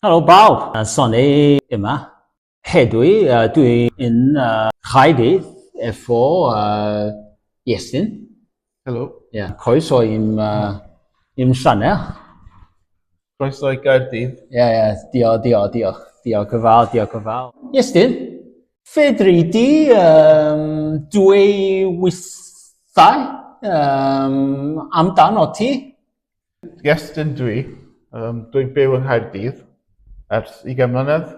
Helo bawb, Sonny yma. Hedwi, uh, dwi'n uh, rhaidydd efo uh, Iestyn. Helo. Ie, yeah, croeso i'm, uh, i'm sianel. Croeso i Gaerdydd. Ie, yeah, ie, yeah, diolch, diolch, diolch. Diolch yn fawr, diolch yn fawr. Iestyn, fedri di um, dwy withau um, amdano ti? Iestyn dwi. Um, dwi'n byw yng Nghaerdydd ers 20 mlynedd.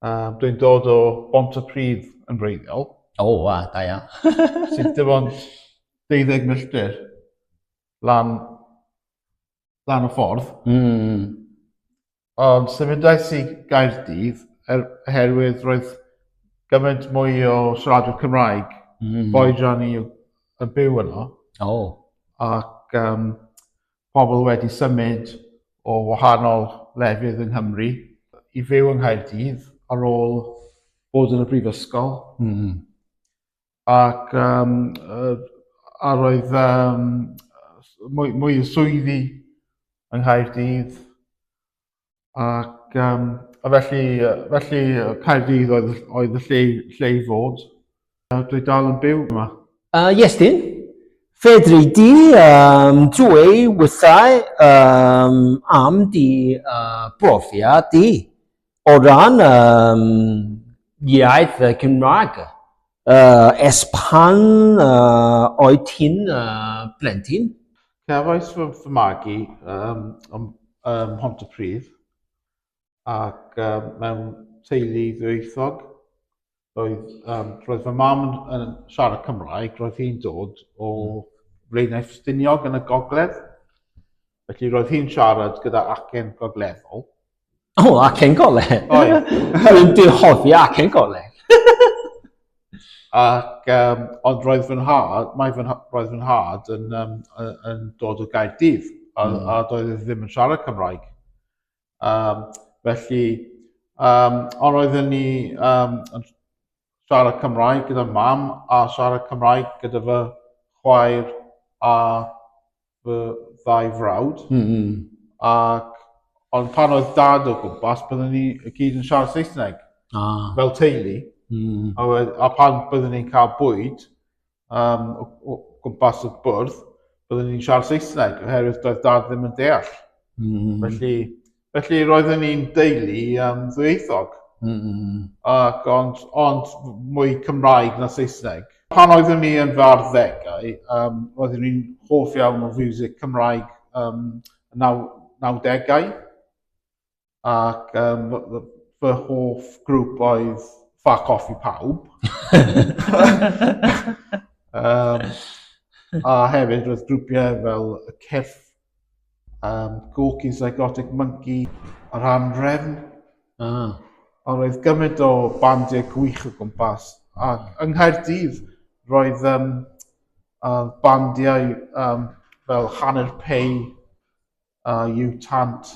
Um, dwi'n dod o Bont y Pryd yn wreiddiol. O, oh, wa, da ia. Sy'n dim ond 12 milltir lan, lan y ffordd. Mm. Ond symudais i Gaerdydd er, oherwydd roedd gymaint mwy o siaradwyr Cymraeg, mm. boed rhan i y byw yno. O. Oh. Ac um, pobl wedi symud o wahanol lefydd yng Nghymru i fyw yng Nghaerdydd ar ôl bod yn y brifysgol. Mm. ac um, a roedd um, mwy, mwy o swyddi yng Nghaerdydd. Ac um, a felly, felly Caerdydd oedd, oedd y lle, lle i fod. Dwi dal yn byw yma. Uh, yes, dyn. Fedri di um, dwy wythau um, am di uh, brofiad di. O ran um, iaith uh, Cymraeg, uh, es pan uh, oed ti'n uh, blentyn? Cefais fy, fy magu um, um, um, Hont y Pryd ac um, mewn teulu ddwyieithog roedd, um, roedd fy mam yn, yn siarad Cymraeg, roedd hi'n dod o Flaenau Ffestiniog yn y gogledd. Felly roedd hi'n siarad gyda acen gogleddol. O, oh, acen gogledd? Oedd. Dwi'n dihoffi acen gogledd. Ac, um, ond roedd fy nhad, mae fy, roedd fy nhad yn, um, yn dod o Gaerdydd, a, mm. a doedd e ddim yn siarad Cymraeg. Um, felly, um, ond oedden ni um, yn siarad Cymraeg gyda mam a siarad Cymraeg gyda fy chwaer a fy ddau frawd. Mm -hmm. Ac, ond pan oedd dad o gwmpas, byddwn ni y gyd yn siarad Saesneg. Ah. Fel teulu. Mm. A, a pan byddwn ni'n cael bwyd, um, o, o gwmpas y bwrdd, byddwn ni'n siarad Saesneg, oherwydd doedd dad ddim yn deall. Mm. Felly, felly roeddwn ni'n deulu um, ddwyieithog. Mm. Ac ond, ond mwy Cymraeg na Saesneg. Pan oeddwn ni yn fy arddegau, um, roeddwn ni'n hoff iawn o fiwsig Cymraeg um, naw, nawdegau. ac um, fy hoff grŵp oedd Fuck Off i Pawb. um, a hefyd roedd grwpiau fel y Cyrff, um, Gorky Psychotic Monkey a'r Anrefn. Ah. A roedd gymaint o bandiau gwych o gwmpas. A yng Nghaerdydd roedd um, uh, bandiau um, fel Hanner Pei, a yw tant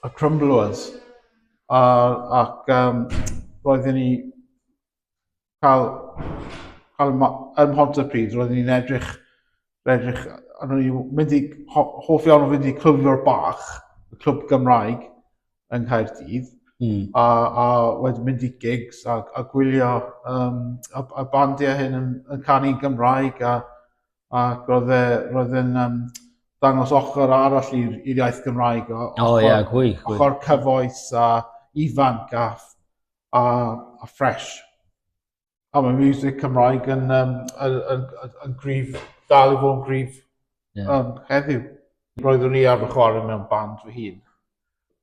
y crumblers. A, ac um, roedden ni cael, cael ym Mhontypridd, roedden ni'n edrych, edrych, a roedden ni'n mynd i, hoff iawn o fynd i clwb o'r bach, y clwb Gymraeg yng Nghaerdydd, mm. a, a wedyn mynd i gigs a, a gwylio um, y, y bandiau hyn yn, yn canu Gymraeg a, ac oedd e, roedd yn um, dangos ochr arall i'r iaith Gymraeg. O, oh, ia, yeah, gwy, gwy. Ochr cyfoes a ifanc a, a, a ffres. A mae music Cymraeg yn, um, yn, yn, yn, yn grif, dal i fod yn grif yeah. um, heddiw. Roeddwn i ar fy chwarae mewn band fy hun.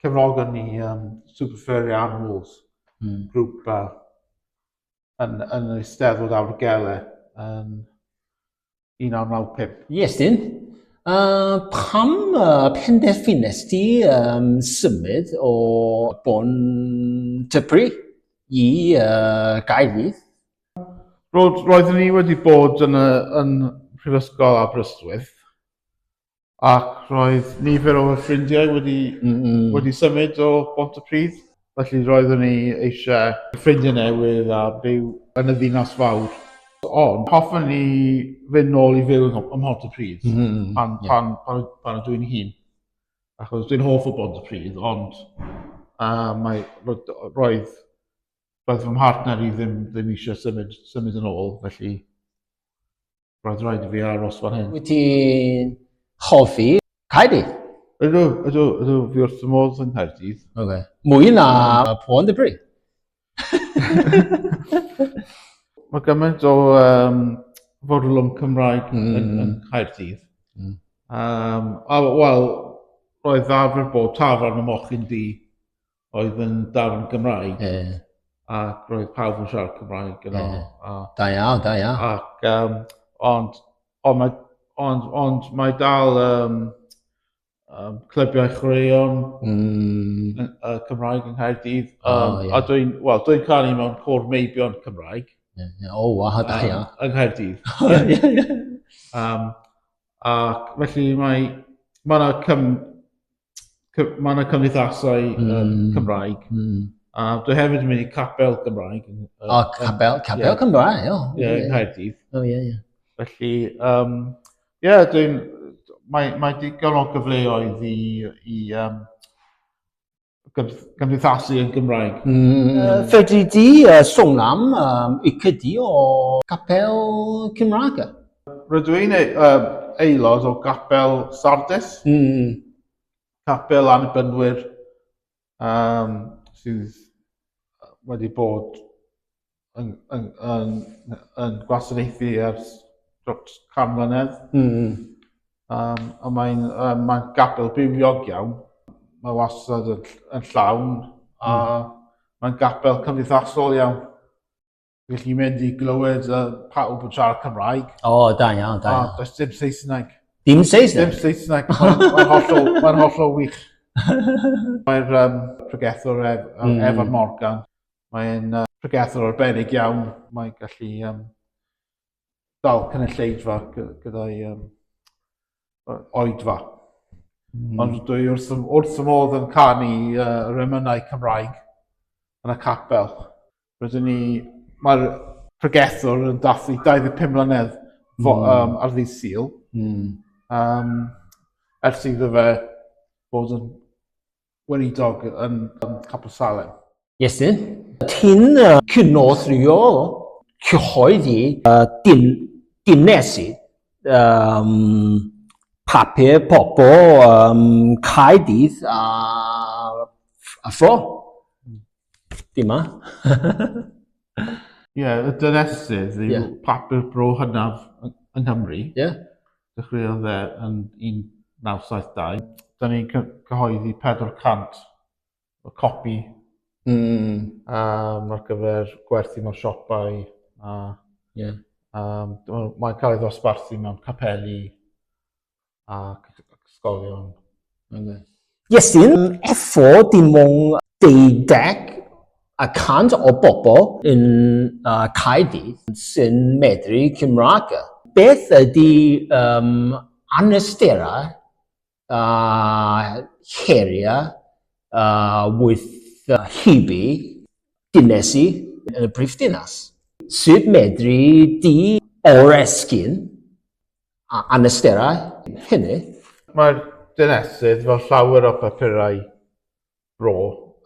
Cefnogon ni um, Super Furry Animals, mm. grŵp uh, yn, yn yr Eisteddfod Awrgele yn 1995. Yes, dyn. Uh, pam uh, penderfynes ti um, symud o Bon Typri i uh, Gaerdydd? Roedd, roeddwn ni wedi bod yn, y, yn Prifysgol Aberystwyth Ac roedd nifer o fy ffrindiau wedi, wedi symud o Bont y Pridd, felly roeddwn ni eisiau ffrindiau newydd a byw yn y ddinas fawr. Ond hoffwn i fynd nôl i fyw ym Mhont y Pridd pan, pan, pan, pan ydw i'n hŷn. Achos dwi'n hoff o Bont y Pridd, ond uh, mae, roedd, roedd fy mhartner i ddim, ddim eisiau symud, symud yn ôl, felly Roedd rhaid i fi aros fan hyn. Wyt ti'n hoffi Caerdydd? Ydw, ydw, ydw, fi wrth y modd yng Nghaerdydd. Okay. Mwy na Pôn de Bri. Mae gymaint o um, fodlwm Cymraeg mm. yn, yn Caerdydd. Mm. Um, a, wel, roedd ddafr bod tafran y mochyn di oedd yn darn Gymraeg. E. Ac roedd pawb yn siarad Cymraeg yno. E. A, da iawn, da iawn. Ac, um, ond, ond, mae, ond, ond mae dal um, um, clybiau chwaraeon mm. uh, Cymraeg yng Nghaerdydd. Um, oh, yeah. A dwi'n, wel, dwi'n cael ei mewn cwr meibion Cymraeg. Yeah, yeah. O, oh, waw, da iawn. Um, yng Nghaerdydd. Oh, yeah, yeah. Um, ac felly mae, mae yna cym, mae yna cymdeithasau mm. um, Cymraeg. Mm. A dwi hefyd yn mynd i capel Gymraeg. O, oh, capel, capel yeah. Cymraeg, o. Oh, yeah, yeah. Caerdydd. O, oh, ie, yeah, ie. Yeah. Felly, um, ie, yeah, dwi'n... Mae, mae digon o gyfleoedd i, i um, gymdeithasu yn Gymraeg. Mm. Uh, fedri di uh, sôn am um, i cydi o capel Cymraeg? Rydw i'n e- uh, aelod o gapel Sardis. Mm. Capel anbynwyr um, sydd wedi bod yn, yn, yn, yn gwasanaethu ers dros can mlynedd. Mm. Um, a mae'n um, mae gapel bywiog iawn. Mae wastad yn, yn llawn. Mm. A hmm. mae'n gapel cymdeithasol iawn. Wych chi'n mynd i glywed uh, pawb yn siarad Cymraeg. O, oh, da iawn, da iawn. Does dim Saesneg. Dim Saesneg? Dim Saesneg. Mae'n hollol, mae hollol wych. Mae'r um, pregethwr ef, um, mm. Evan Morgan, mae'n uh, pregethwr arbennig iawn. Mae'n gallu um, dal cynulleidfa gyda'i um, oedfa. Mm. Ond dwi wrth, wrth y modd yn canu uh, remynau Cymraeg yn y capel. Rydyn ni, mae'r pregethwr yn dathlu 25 mlynedd mm. um, ar ddydd Sil. Mm. Um, ers iddo fe bod yn weinidog yn Capel Salem. Iesu, ti'n cynorthwyo cyhoeddi dynesu papur pobl Caerdydd a Fro. Di ma. Ie, yeah, y dynesydd yw yeah. papur bro hynaf yng Nghymru. Ie. Yeah. Dechreuodd dde yn 1972. Da ni'n cyhoeddi 400 o copi mm. um, ar gyfer gwerthu mewn siopau. A, yeah. um, mae'n cael ei ddosbarthu mewn capeli ac ysgolion. Ynde? Yes, dyn, efo dim ond 20 a cant o bobl yn uh, Caerdydd sy'n medru Cymraeg. Beth ydy um, anawsterau a uh, heriau uh, with uh, hybu dynesi yn y brif dinas? Sut medru di oresgyn A anawsterau hynny? Mae'r dynesydd fel llawer o bapurau bro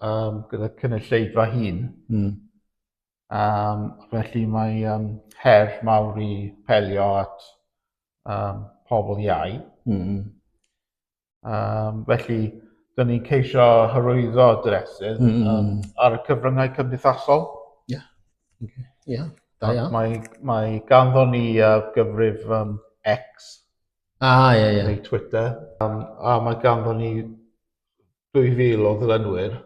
um, gyda cynulleidfa hun. Mm. Um, felly mae um, her mawr i pelio at um, pobl iau. Mm. Um, felly, dyn ni'n ceisio hyrwyddo dresydd mm. um, ar y cyfryngau cymdeithasol. Ie. Yeah. Okay. Yeah. Da iawn. Mae, mae ganddo ni uh, gyfrif um, X. Ah, ie, yeah, ie. Yeah. Neu Twitter. Um, a mae ganddo ni 2000 o ddylynwyr.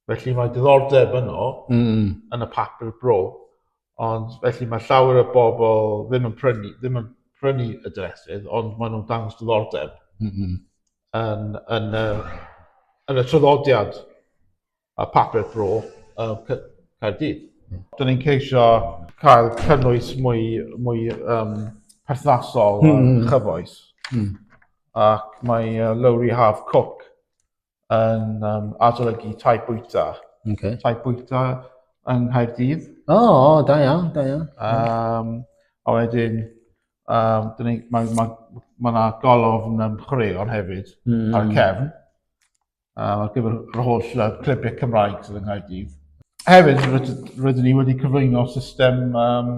Felly mae diddordeb yno mm. yn y papur bro, ond felly mae llawer o bobl ddim yn prynu, ddim yn prynu y dresydd, ond maen nhw'n dangos diddordeb mm -hmm. yn, yn, uh, yn y traddodiad a papur bro uh, Caerdydd. Mm. Dyna ni'n ceisio cael cynnwys mwy, mwy um, perthnasol mm. a chyfoes. Mm. Ac mae uh, Lowry Half Cook yn um, adolygu tai bwyta. Okay. Tai bwyta yng Nghaerdydd. O, oh, oh, da iawn, da iawn. Um, a wedyn, um, mae yna ma, ma, ma, ma golofn yn um, chwaraeon hefyd mm. ar y cefn. Um, ar gyfer yr holl uh, clybiau Cymraeg sydd yng Nghaerdydd. Hefyd, rydyn ni wedi cyflwyno system um,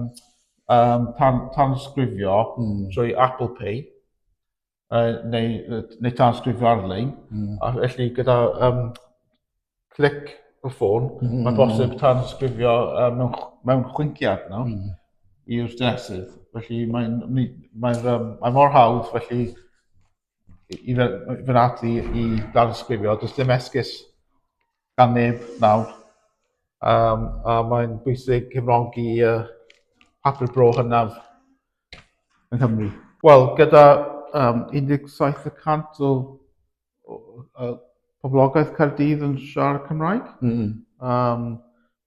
um, tan, tansgrifio mm. trwy Apple Pay. uh, neu, neu transgrifio ar-lein. Mm. A felly gyda um, clic y ffôn, mm. -hmm. mae bosib transgrifio uh, mewn, mewn chwinciad no? mm. i'r dynesydd. Felly mae'n mae, mae, um, mae mor hawdd felly i fy ati i transgrifio. Does dim esgus gan neb nawr. Um, a mae'n bwysig cefnogi uh, papur bro hynaf yng Nghymru? Wel, gyda um, 17 y cant o, o, o poblogaeth Caerdydd yn siarad Cymraeg, mm -hmm. um,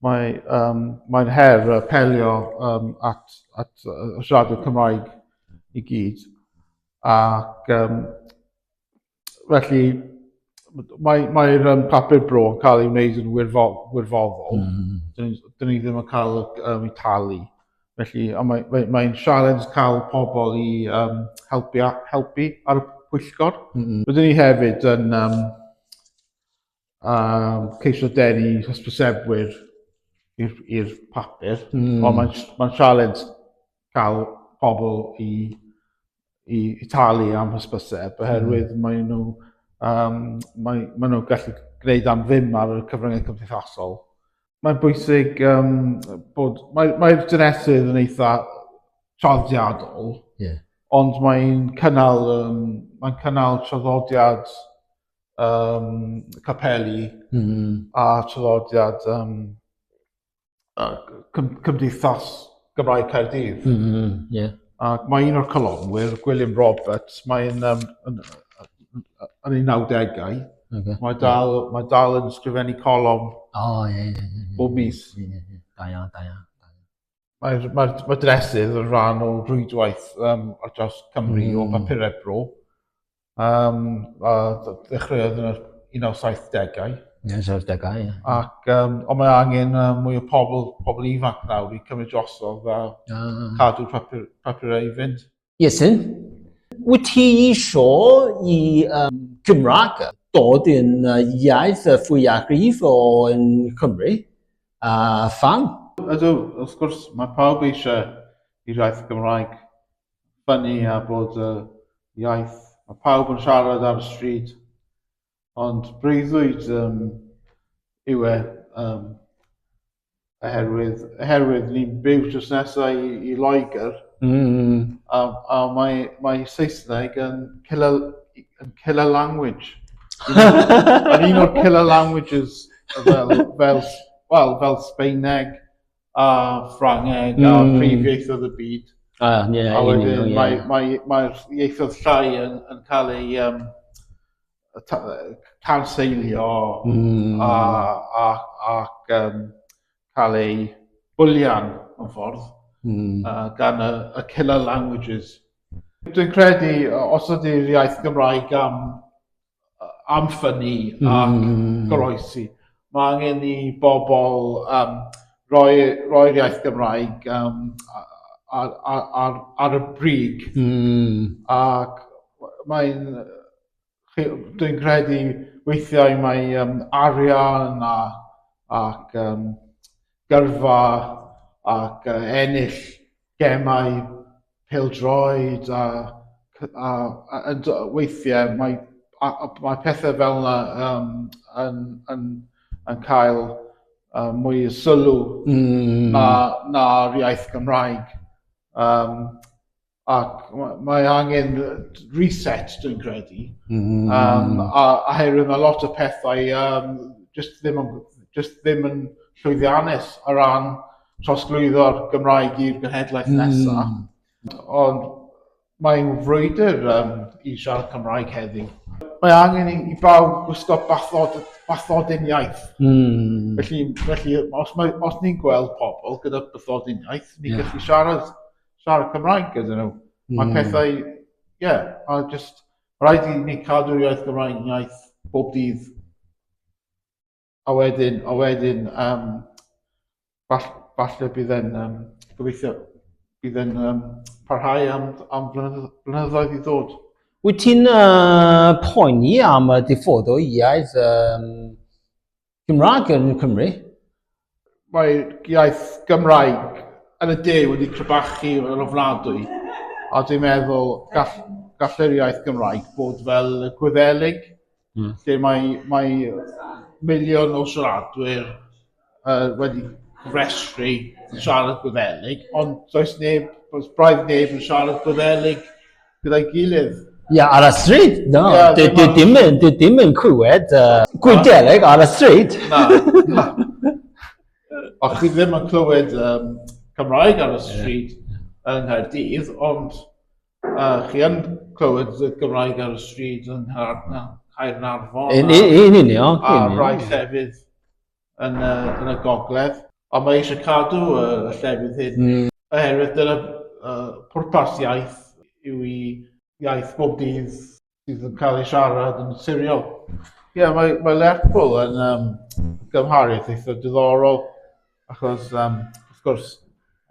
mae, um, mae'n her y pelio um, at, at uh, siarad y Cymraeg i gyd. Ac um, felly mae mae'r um, papur bro yn cael ei wneud yn wirfoddol. Mm. Dyn ni, dyn ni ddim yn cael um, ei talu. Felly, mae'n mae, mae sialens cael pobl i um, helpu, helpu ar y pwyllgor. Mm. Rydyn ni hefyd yn um, a ceisio denu hysbysebwyr i'r papur, mm. ond mae'n ma sialens cael pobl i, i, i talu am hysbyseb, oherwydd mm. maen nhw, um, mae, maen nhw gallu gwneud am ddim ar y cyfryngau cymdeithasol. Mae'n bwysig um, bod, mae'r mae, mae dynesydd yn eitha traddodiadol, yeah. ond mae'n cynnal, um, mae'n cynnal traddodiad um, capeli mm. a traddodiad um, cymdeithas Gymraeg Caerdydd. Mm -hmm, yeah. Ac mae un o'r colofnwyr, Gwilym Roberts, mae'n um, yn, yn ei 90au. Okay. Mae dal, yeah. mae dal yn sgrifennu colofn oh, yeah, yeah, yeah, bob mis. Yeah, yeah, yeah. Da iawn, da iawn. Mae'r mae mae dresydd yn rhan o rwydwaith um, ar draws Cymru mm. o hmm. bapurau bro. Um, a ddechreuodd yn yr 1970au. 1970au, ie. Ac, um, ond mae angen uh, mwy o pobl, pobl ifanc nawr i cymryd drosodd a ah. cadw papur, papurau i fynd. Iesu. Wyt ti isio i um, Cymraeg dod yn iaith fwyafrif o yn Cymru? A uh, fan? Ydw, wrth gwrs, mae pawb eisiau i iaith Gymraeg ffynnu a bod y iaith mae pawb yn siarad ar y stryd Ond breuddwyd um, yw e, um, oherwydd, oherwydd ni'n byw drws nesau i, i Loegr, mm. a, a mae, mae Saesneg yn killer, yn killer language. Yn un o'r killer languages fel, fel, well, fel Sbeineg, a Ffrangeg mm. a hmm. prif ieithoedd y byd. A, ie, a wedyn yeah, yeah. mae'r mae, mae ieithoedd llai yn, yn cael ei um, tanseilio mm. a, a, ac um, cael ei bwlian mewn ffordd mm. uh, gan y, y killer languages. Dwi'n credu, os ydy'r iaith Gymraeg am am ffynnu mm. ac goroesi. Mae angen i bobl um, roi, roi'r iaith Gymraeg um, ar, ar, ar, ar y brig. Mm. Ac mae'n... Dwi'n credu weithiau mae um, arian a, ac um, gyrfa ac uh, ennill gemau pêl-droed a a a yn do- weithiau mae a- a- mae pethe fel 'na yym yn yn yn cael yy mwy o sylw... Hmm. ...na na'r iaith Gymraeg yym ac ma' mae angen yy reset dwi'n credu. Hmm. Yym a oherwydd ma' lot o pethau yym jyst ddim yn jyst ddim yn llwyddiannus o ran trosglwyddo'r Gymraeg i'r genhedlaeth nesaf. Mm. Ond mae'n frwydr um, i siarad Cymraeg heddiw. Mae angen i, i bawb gwisgo bathod, bathodyn iaith. Mm. Felly, felly os, mae, os ni'n gweld pobl gyda bathodyn iaith, ni'n yeah. gallu siarad, siarad Cymraeg gyda nhw. Mm. Mae hmm. pethau, ie, yeah, a just rhaid i ni cadw'r iaith Gymraeg iaith bob dydd. A wedyn, a wedyn, um, fall, falle bydd e'n, um, gobeithio, bydd e'n um, parhau am, am blynyddoedd i ddod. Wyt ti'n uh, poeni am y diffodd o iaith um, Gymraeg yn Cymru? Mae iaith Gymraeg yn y de wedi crebachu yn ofnadwy, a dwi'n meddwl gall, gall yr iaith Gymraeg bod fel y Gwyddelig, Mm. Lle mae, mae miliwn o siaradwyr uh, wedi restru yn siarad Gwyddelig, ond does neb, does braidd neb yn siarad Gwyddelig gyda'i gilydd. Ie, yeah, ar y stryd. No, yeah, di, di, dim, yn, di, dim yn clywed uh, Gwyddelig ar y stryd. Na, na. O, chi ddim yn clywed um, Cymraeg ar y stryd yeah. yng Nghaerdydd, ond Uh, chi yn clywed y Gymraeg ar y stryd yn Caernarfon. Yn union. A rai llefydd yn, uh, yn y gogledd. Ond mae eisiau cadw y llefydd hyn. Mm. Oherwydd dyna uh, pwrpas iaith yw i iaith bob dydd sydd yn cael ei siarad yn naturiol. Ie, yeah, mae, mae Lerpwl yn um, gymharith eitha diddorol, achos, um, wrth gwrs,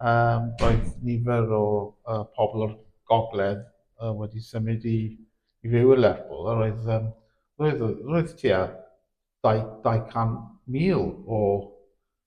um, roedd nifer o uh, pobl o'r gogledd uh, wedi symud i, i fyw i Lerpwl, a roedd, um, roedd, roedd tua 200,000 o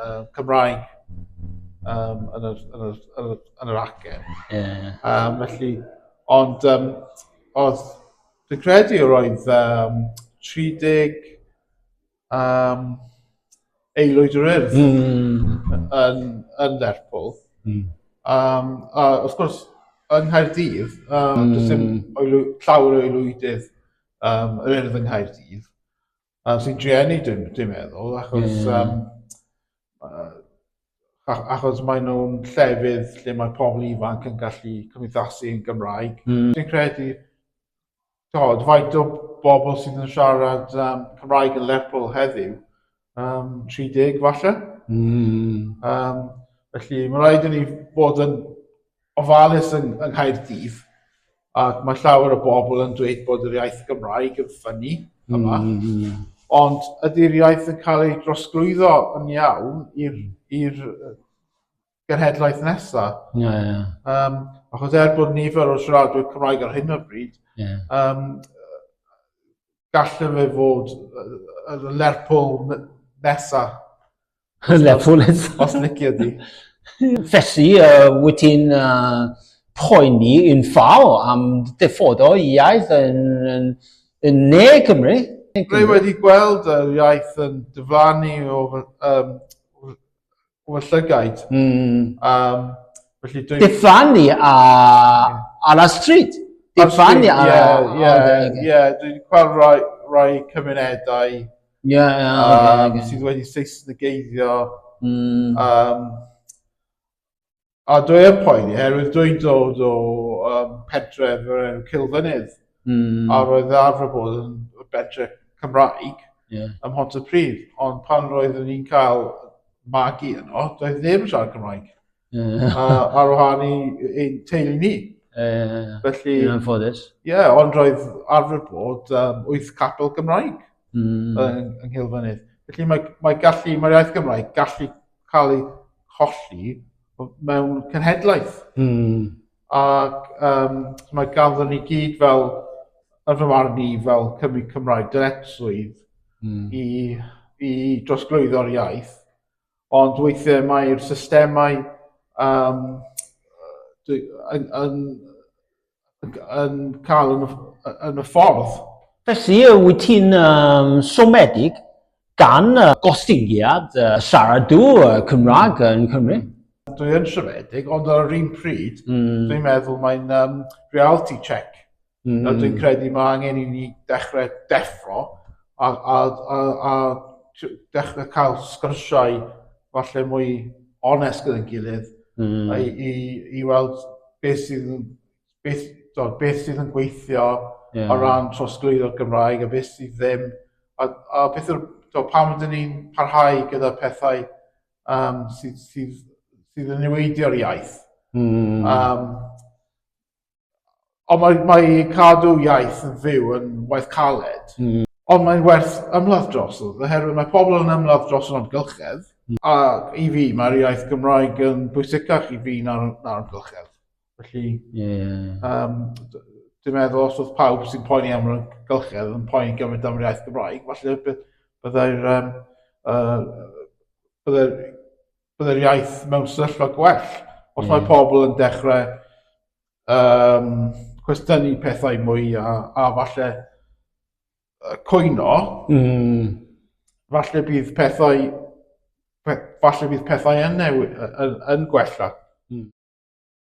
uh, Cymraeg um, yn, yr, yn, yr, yn, yr, yn yr acen. Yeah. Um, felly, ond um, oedd, dwi'n credu yr oedd um, 30 um, aelwyd yr urdd mm. yn, yn Lerpwl. Mm. Um, a wrth gwrs, yng Nghaerdydd, um, mm. does dim hmm. llawer o aelwydydd um, yr urdd yng Nghaerdydd. A sy'n drueni dwi'n dwi meddwl, achos, um, achos maen nhw'n llefydd lle mae pobl ifanc yn gallu cymdeithasu yn Gymraeg. Mm. Dwi'n credu, tod, faint o bobl sydd yn siarad um, Cymraeg yn Lerpwl heddiw, um, 30 falle. Mm. Um, felly, mae rhaid i ni bod yn ofalus yng Nghaerdydd ac mae llawer o bobl yn dweud bod yr iaith Gymraeg yn ffynnu yma. Mm, mm. Ond ydy'r iaith yn cael ei drosglwyddo yn iawn i'r genhedlaeth nesaf? Ie, yeah, ie. Yeah. Um, achos er bod nifer o'r siaradwyr Cymraeg ar hyn o bryd, yeah. um, gallu fe fod yn y Lerpwl nesaf Lerpwl eto. Os licio di. Felly, uh, wyt ti'n uh, poeni yn fawr am diffod o iaith yn, yn, yn ne Cymru? Rwy wedi gweld yr iaith yn dyflannu o fy, um, o fy llygaid. Mm. Um, felly dwi... Dyflannu a, ar y stryd? Dyflannu ar y... Ie, ie, ie. Dwi'n gweld rhai, rhai cymunedau Ie, yeah, ie. Yeah, um, sydd wedi Saesnigeiddio. Mm. Um, a dwi yn poeni, herwydd dwi'n dod o um, pentref yr enw Cilfynydd. Mm. A roedd arfer bod yn bentre Cymraeg yeah. ym Mhont y Prif. Ond pan roeddwn ni'n cael magi yno, doedd ddim yn siarad Cymraeg. Yeah. A ar wahân i ein teulu ni. Ie, ie, ie. Felly... Yn anffodus. Ie, yeah, ond roedd arfer bod um, wyth capel Gymraeg mm. yng, yng Nghilfynydd. Felly mae, mae gallu, mae'r iaith Gymraeg gallu cael ei cholli mewn cenhedlaeth. Mm. Ac um, mae ganddo ni gyd fel, yn fy marn i, fel Cymru Cymraeg dyletswydd mm. i, i drosglwyddo'r iaith Ond weithiau mae'r systemau um, yn, yn, yn cael yn, yn y ffordd. Felly, wyt ti'n um, somedig gan uh, gostyngiad uh, siaradw uh, Cymraeg yn Cymru? Dwi yn siomedig, ond ar yr un pryd, mm. dwi'n meddwl mae'n um, reality check Mm. Nawr, dwi'n credu mae angen i ni dechrau deffro a, a, a, a dechrau cael sgyrsiau falle mwy onest gyda'n gilydd mm. i, i, i weld beth sydd, beth, do, beth sydd yn gweithio yeah. o ran trosglwyddo'r Gymraeg a beth sydd ddim. A, a beth yw'r, do, pam ydyn ni'n parhau gyda pethau um, sydd, sydd, sydd yn niweidio'r iaith. Mm. Um, Ond mae, mae cadw iaith yn fyw yn waith caled. Mm. Ond mae'n werth ymladd drosodd, oherwydd mae pobl yn ymladd dros yr amgylchedd. Mm. A i fi, mae'r iaith Gymraeg yn bwysicach i fi na'r, na amgylchedd. Felly, yeah. um, dwi'n meddwl os oedd pawb sy'n poeni am yr amgylchedd yn poeni gymaint am yr iaith Gymraeg, falle byddai'r um, uh, byddai'r bod yr iaith mewn sefyllfa gwell. Os mm. mae pobl yn dechrau um, cwestiynu pethau mwy a, a falle coeno, mm. falle bydd pethau falle bydd pethau yn, newid, yn, yn gwella. Mm.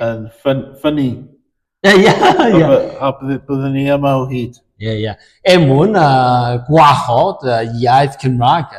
Yn ffyn, ffynnu. Ie, ie, ie. A byddwn ni yma o hyd. Ie, ie. Er mwyn uh, gwahodd uh, iaith Cymraeg